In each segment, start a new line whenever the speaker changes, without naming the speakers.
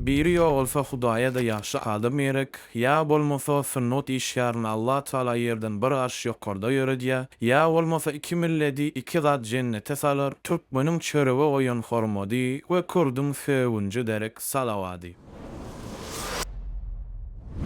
Biri ýogalsa Hudaýa-da ýagşy adam gerek, ýa bolmasa sunnet işgärini Allah Taala ýerden bir arş ýokarda ýöredýär, ýa bolmasa iki milleti iki zat jennete salar, türkmeniň çörege goýan hormady we kürdüň sögünji derek salawady.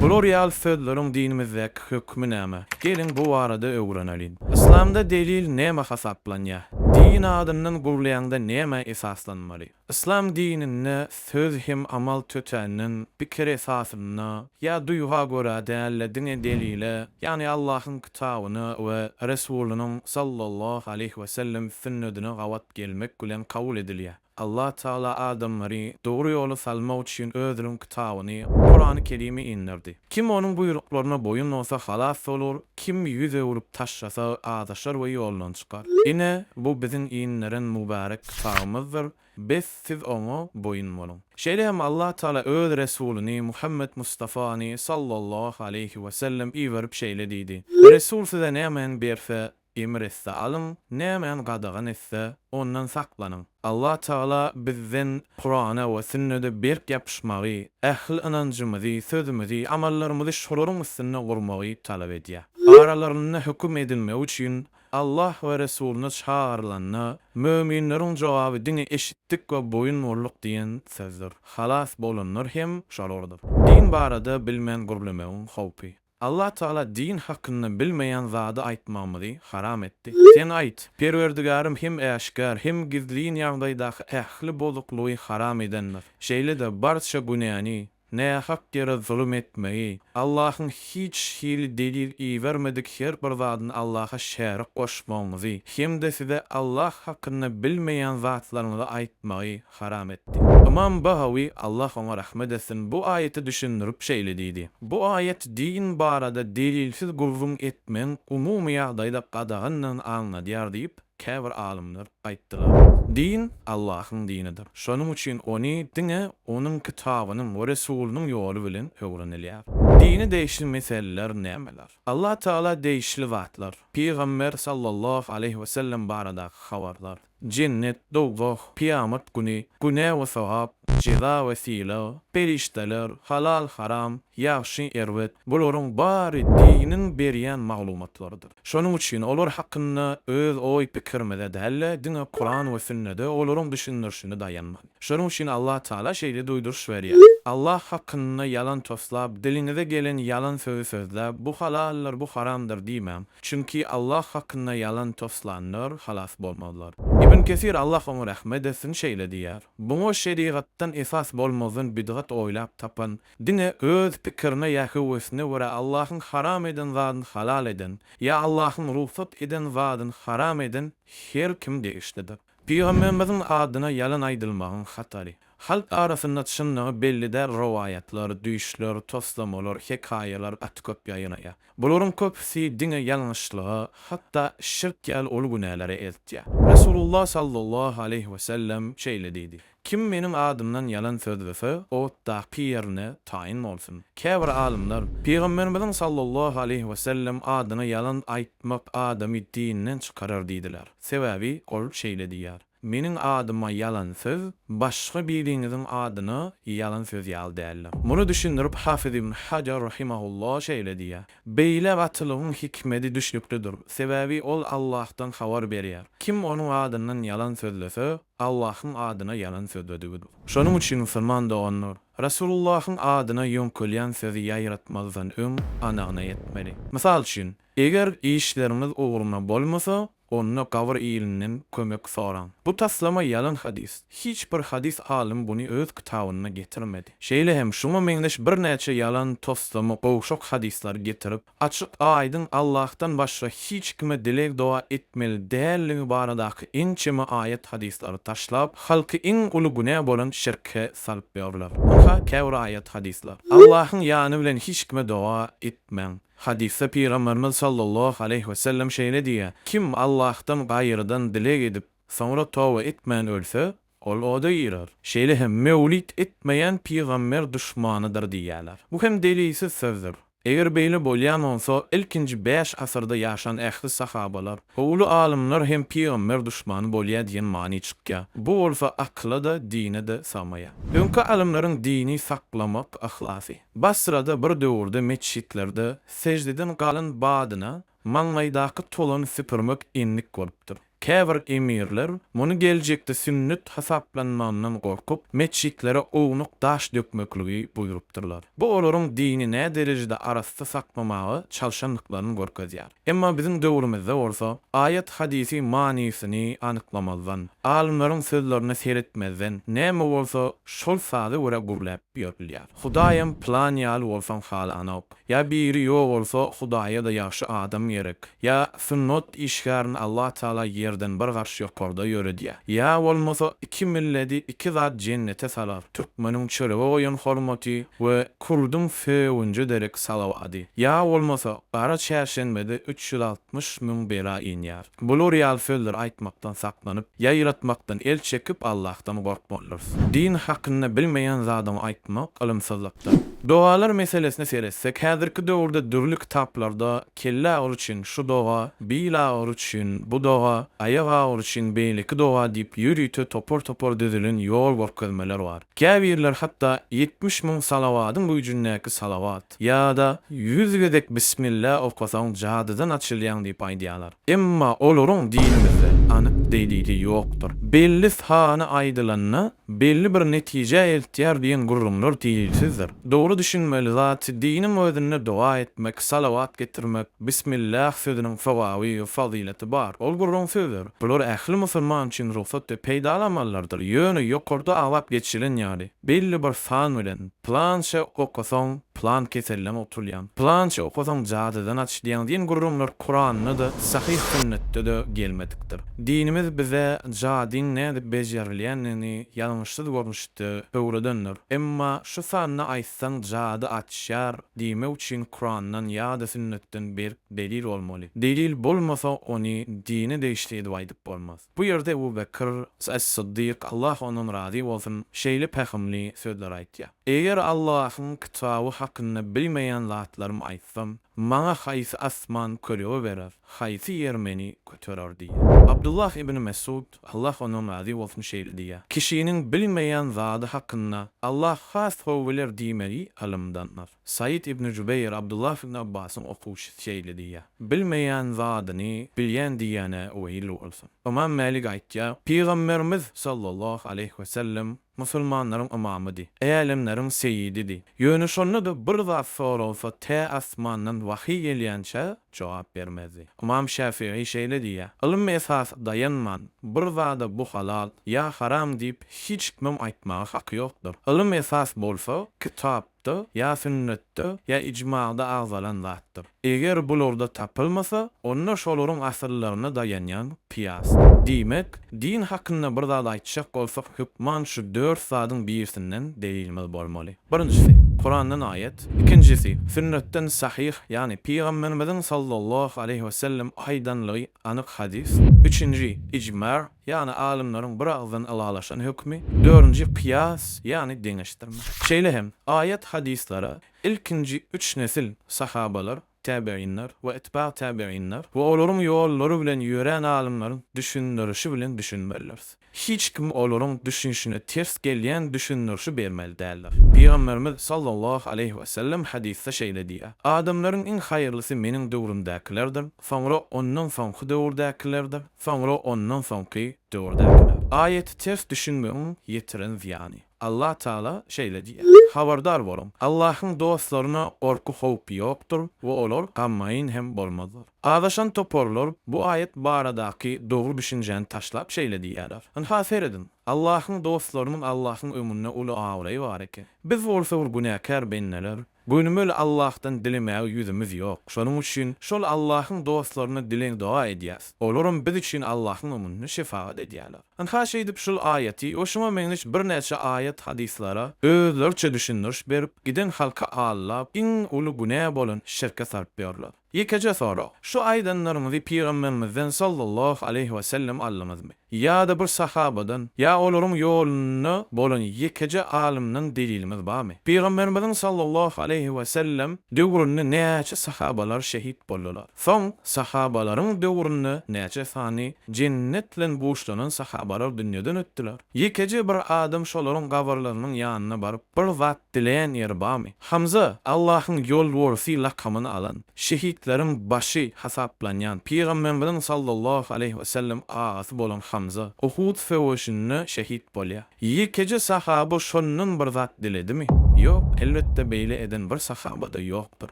Bular ýaly sözleriň dinimizdäki hökmi näme? Geliň bu barada öwreneliň. Yslamda delil näme hasaplanýar? Din adyndan gurlaýaňda nämä esaslanmaly? Yslam dininde söz hem amal tötänden, pikir esasynda, ýa duýga görä däl-de diňe delile, ýagny Allahyň kitabyna we Resulynyň sallallahu aleýhi wesellem sünnedine gabat gelmek bilen kabul edilýär. Allah Tagala adamlary dogry ýola salmak üçin Özüniň kitabyny, Kurany Kerimi inderdi. Kim Onuň buýruklaryna boýun bolsa halas bolar, kim ýüz öwrüp taşlasa, azaşar we ýoldan çykar. Ine, bu Biziň inderen mübärek kitabymyzdyr, bes, siz oňa boýun boluň. Şeýle hem Allah Tagala Öz Resulyny Muhammet Mustafany, sallallahu aleýhi we sellem, iberip şeýle diýdi, Resul size nämäni berse, Emr etse alyň, nämäni gadagan etse, ondan saklanyň. Allah Tagala bizden Kurana we sünnede berk ýapyşmagy, ähli ynanjymyzy, sözümizi, amallarymyzy şolaryň üstünde gurmagy talap edýär. Aralarynda höküm edilmegi üçin Allah we Resulyna çagyrylanda, möminleriň jogaby diňe eşitdik we boýun bolduk diýen sözdür. Halas bolanlar hem şolardyr. Din barada bilmän gürlemegiň howpy. Allah Tagala din hakynda bilmeýän zady aýtmagymyzy haram etdi. Sen aýt, Perwerdigärym hem äşgär, hem gizlin ýagdaýdaky ähli bozuklygy haram edendir. Şeýle-de barça günäni, nähak ýere zulum etmegi, Allahyň hiç hili delil ibermedik her bir zadyny Allaha şärik goşmagyňyzy hem-de size Allah hakynda bilmeýän zatlaryňyzy aýtmagy haram etdi. Ymam Bagawi, Allah oňa rahmet etsin, bu aýaty düşündirip şeýle diýdi, Bu aýat din barada delilsiz gürrüň etmegiň umumy ýagdaýda gadagandygyny aňladýar diýip, käbir alymlar aýtdylar. Din Allahyň dinidir. Şonuň üçin ony diňe Onuň Kitabynyň we Resulynyň ýoly bilen öwrenilýär. Dine degişli meseleler nämeler? Allah Tagala degişli zatlar, Pygamber sallallahu aleýhi wesellem baradaky habarlar, Jennet, dowzah, kyýamat güni, günä we sogap, jeza we sylag, perişdeler, halal, haram, ýagşy, erbet, bularyň bary diniň berýän maglumatlarydyr. Şonuň üçin olar hakynda öz oý-pikirimize däl-de, diňe Kuran we sünnede olaryň düşündirişine daýanmaly. Şonuň üçin Allah Tagala şeýle duýduryş berýär, Allah hakynda ýalan toslap, diliňize gelen ýalan sözi sözläp, bu halaldyr, bu haramdyr diýmäň, çünki Allah hakynda ýalan toslanlar halas bolmazlar. Ibn Kesir, Allah oňa rahmet etsin, şeýle diýýär, Buňa şerigatdan esas bolmazdan bidgat oýlap tapan, diňe öz pikirine ýa höwesine görä Allahyň haram eden zadyny halal eden, ýa Allahyň rugsat eden zadyny haram eden her kim degişlidir. Pygamberimiziň adyna ýalan aýdylmagyň hatary. Halk arasynda çynlygy belli däl rowaýatlar, düýşler, toslamalar, hekaýalar gaty köp ýaýraýar. Bularyň köpüsi diňe ýalňyşlyga, hatda şirk ýaly uly günälere eltýär. Resulullah sallallahu aleýhi wesellem şeýle diýdi, Kim Meniň adymdan ýalan sözlese, otdaky ýerine taýyn bolsun. Käbir alymlar, Pygamberimiziň sallallahu aleýhi we sellem adyna ýalan aýtmak adamy dinden çykarar diýdiler. Sebäbi ol şeýle diýýär, Meniň adyma ýalan söz, başga biriňiziň adyna ýalan söz ýaly däldir. Muny düşündirip Hafyz ibn Hajar rahimahullah şeýle diýýär, Beýle gatylygyň hikmedi düşnüklidir, sebäbi ol Allahdan habar berýär. Kim onuň adyndan ýalan sözlese, Allahyň adyna ýalan sözledigidir. Şonuň üçin musulman doganlar, Resulullahyň adyna ýöňkelýän sözi ýaýratmazdan öň anygyna etmeli. Mysal üçin, eger işleriňiz ugruna bolmasa, onda gabyr ilinden kömek soraň. Bu taslama ýalan hadys. Hiç bir hadys alymy buny öz kitabynda getirmedi. Şeýle hem şuňa meňzeş birnäçe ýalan toslama gowşak hadyslary getirip, açyk, aýdyň Allahdan başga hiç kime dileg-doga etmeli däldigi baradaky ençeme aýat hadyslary taşlap, halky iň uly günä bolan şirke salyp ýörler. Ynha, käbir aýat hadyslar. Allahyň ýany bilen hiç kime doga etmäň. Hadysda Pygamberimiz sallallahu aleýhi we sellem şeýle diýýär, Kim Allahdan gaýrydan dileg edip, soňra toba etmän ölse, Ol oda girer. Şeýle hem Mewlid etmeýän pygamber duşmanydyr diýýärler. Bu hem delilsiz sözdür. Eger beýle bolýan bolsa, ilkinji bäş asyrda ýaşan ähli sahabalar we uly alymlar hem pygamber duşmany bolýar diýen many çykýar. Bu bolsa akyla-da, dine-de sygmaýar. Öňki alymlaryň dini saklamak yhlasy. Basrada bir döwürde metjitlerde seždeden galan badyna Maňlaýdaky tolany süpürmek endik bolupdyr. Käbir emirler, muny geljekde sünnet hasaplanmagyndan gorkup, metjitlere ownuk daş dökmekligi buýrupdyrlar. Bu olaryň dini näderejede arassa saklamaga çalşandyklaryny görkezýär. Emma biziň döwrümizde bolsa, aýat-hadysy manysyny anyklamazdan, alymlaryň sözlerine seretmezden, näme bolsa, şol saza görä gürläp ýörülýär. Hudaýam pylan ýaly bolsaň halanok. Ýa biri ýok bolsa Hudaýa-da ýagşy adam gerek. Ýa sunnet işgärini Allah Taala ýerden bir garş ýokarda ýöredýär. Ýa bolmasa iki milledi iki zat jennete salar, türkmeniň çörege goýan hormaty we kurduň sögünje derek salawady. Ýa bolmasa gara çärşenbede üç ýüz altmyş müň bela inýär. Bular ýaly sözleri aýtmakdan saklanyp, ýaýratmakdan el çekip Allahdan gorkmalydyrys. Din hakynda bilmeýän zadyňy aýtmak ylymsyzlykdyr. Dogalar meselesine seretsek, häzirki döwürde dürli kitaplarda kelle agyry üçin şu doga, bil agyry üçin bu doga, aýak agyry üçin beýleki doga diýip ýörite topar-topar düzülen ýol görkezmeler bar. Käbirleri hatda ýetmiş müň salawadyň güýjündäki salawat, aýt, ýa-da ýüz gezek bismillä okasaň jadydan açylýaň diýip aýdýarlar. Emma olaryň dinimizde anyk delili ýokdur. Belli sany aýdylanda belli bir netijä eltýär diýen gürrüňler delilsizdir. Dogry düşünmeli zat, diniň özünde doga etmek, salawat getirmek, bismillah sözüniň sogaby we fazylaty bar. Ol gürrüň sözdür. Bular ähli musulman üçin rugsat we peýdaly amallardyr. Ýöne ýokarda aglap geçilen ýaly, Belli bir san bilen, Pylança okasaň, pylan keselden gutulýaň, Pylança okasaň, jadydan açylýaň diýen gürrüňler Kuranda-da, sahyh sünnetde-de gelmedikdir. Dinimiz bize jadyň nädip bejerilýändigini ýalňyşsyz görnüşde öwredendir. Emma şu sanda aýtsaň jady açýar diýmek üçin Kurandan ýa-da sünnetden berk delil bolmaly. Delil bolmasa ony dine degişli edip aýdyp bolmaz. Bu ýerde Ebu Bekr As-Syddyk, Allah ondan razy bolsun, şeýle pähimli sözleri aýtýar, Eger Allahyň kitaby hakynda bilmeýän zatlarymy aýtsam, maňa haýsy asman kölege berer, haýsy ýer meni göterer diýýär. Abdullah ibn Mesud, Allah ondan razy bolsun, şeýle diýýär, Kişiniň bilmeýän zady hakynda Allah has gowy biler diýmegi ylymdandyr. Saýyt ibn Jübeýr Abdullah ibn Abbasyň okuwçysy şeýle diýýär, Bilmeýän zadyny bilýän diýýäne weýil bolsun. Ymam Mälik aýtýar, Pygamberimiz, sallallahu aleýhi we sellem, musulmanlaryň ymamydy, älemleriň seýididi. Ýöne şonda-da bir zat soralsa tä asmandan wahyý gelýänçä jogap bermezdi. Ymam Şäfigy şeýle diýýär, Ylym esasa daýanman, bir zada bu halal, ýa haram diýip hiç kimem aýtmaga haky ýokdur. Ylym esas bolsa, kitap, Sunnetde, ýa Sünnetde, ýa Ijmada agzalan zatdyr. Eger bularda tapylmasa, onda şolaryň asyllaryna daýanýan kyýasdyr. Diýmek, din hakynda bir zat aýtjak bolsak, hökman şu dört zadyň birisinden delilimiz bolmaly. Birinjisi, Kurandan aýat, ikinjisi, Sünnetden sahyh, ýagny Pygamberimiziň sallallahu aleýhi wesellem aýdanlygy anyk hadys, üçünji, Ijma, Ýagny alymlaryň bir agzdan ylalaşan hökümi, dördünji kyýas, ýagny deňeşdirme. Şeýle hem, aýat, hadyslara ilkinji üç nesil, sahabalar, täbeýinler we itba täbeýinler we olaryň ýollary bilen ýörän alymlaryň düşündirişi bilen düşünmelidiris. Hiç kim olaryň düşünişine ters gelýän düşündirişi bermeli däldir. Pygamberimiz sallallahu aleýhi we sellem hadysda şeýle diýýär, Adamlaryň iň haýyrlysy meniň döwrümdäkilerdir, soňra ondan soňky döwürdäkilerdir, Soňra ondan soňky döwürdäkilere. Aýaty ters düşünmegiň ýetiren zyýany. Allah Tagala şeýle diýýär, Habardar boluň! Allahyň dostlaryna gorky-howp ýokdur we olar gammaýyn hem bolmazlar. Azaşan toparlar bu aýat baradaky dogry düşünjäni taşlap şeýle diýýärler, Ynha, serediň! Allahyň dostlarynyň Allahyň öňünde uly abraýy bar eken. Biz bolsa bir günäkär bendeler. Gönümel Allahdan dilemäge ýüzümiz ýok. Şonuň üçin şol Allahyň dostlaryna dileg doga edýäs. Olaram biz üçin Allahyň öňünde şefagat edýärler. Ynha şeýdip şul aýaty we şuňa meňzeş birnäçe aýat hadyslara özleriçe düşündiriş berip giden halky allap iň uly günä bolan şirke saryp ýörler. Ýekeje sorag, şu aýdanlaryňyzy Pygamberimizden sallallahu aleýhi we sellem aldyňyzmy? Ýa-da bir sahabadan, ýa olaryň ýolunda bolan ýekeje alymdan deliliňiz barmy? Pygamberimiziň sallallahu aleýhi we sellem döwründe näçe sahabalar şehit boldular? Soň sahabalaryň döwründe näçe sany jennet bilen buşlanan sahabalar dünýeden ötdüler? Ýekeje bir adam şolaryň gabyrlarynyň ýanyna baryp bir zat Dileýän ýeri barmy? Hamza, Allahyň ýolborsy lakamyny alan, şehitleriň başy hasaplanýan Pygambermiziň sallallahu aleýhi wesellem agasy bolan Hamza, Uhud söweşinde şehit bolýar. Ýekeje sahaba şondan bir zat diledimi? Ýok, elbetde beýle eden bir sahaba-da ýokdur.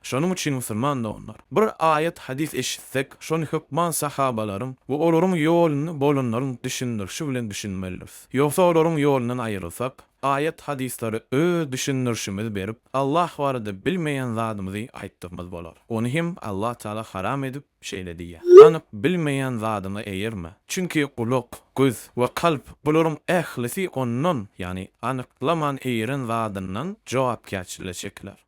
Şonuň üçin musulman doganlar, bir aýat, hadys eşitsek, şony hökman sahabalaryň we olaryň ýolunda bolanlaryň düşündirişi bilen düşünmelidiris. Ýogsa olaryň ýolundan aýrylsak, Aýat-hadyslary öz düşündirişimizi berip, Allah barada bilmeýän zadymyzy aýtdygymyz bolar. Ony hem Allah Tagala haram edip, şeýle diýýär, Anyk bilmeýän zadyňa eýerme. Çünki gulak, göz we kalp, bularyň ählisi ondan, ýagny anyklaman eýeren zadyndan jogapkärçilige çekiler.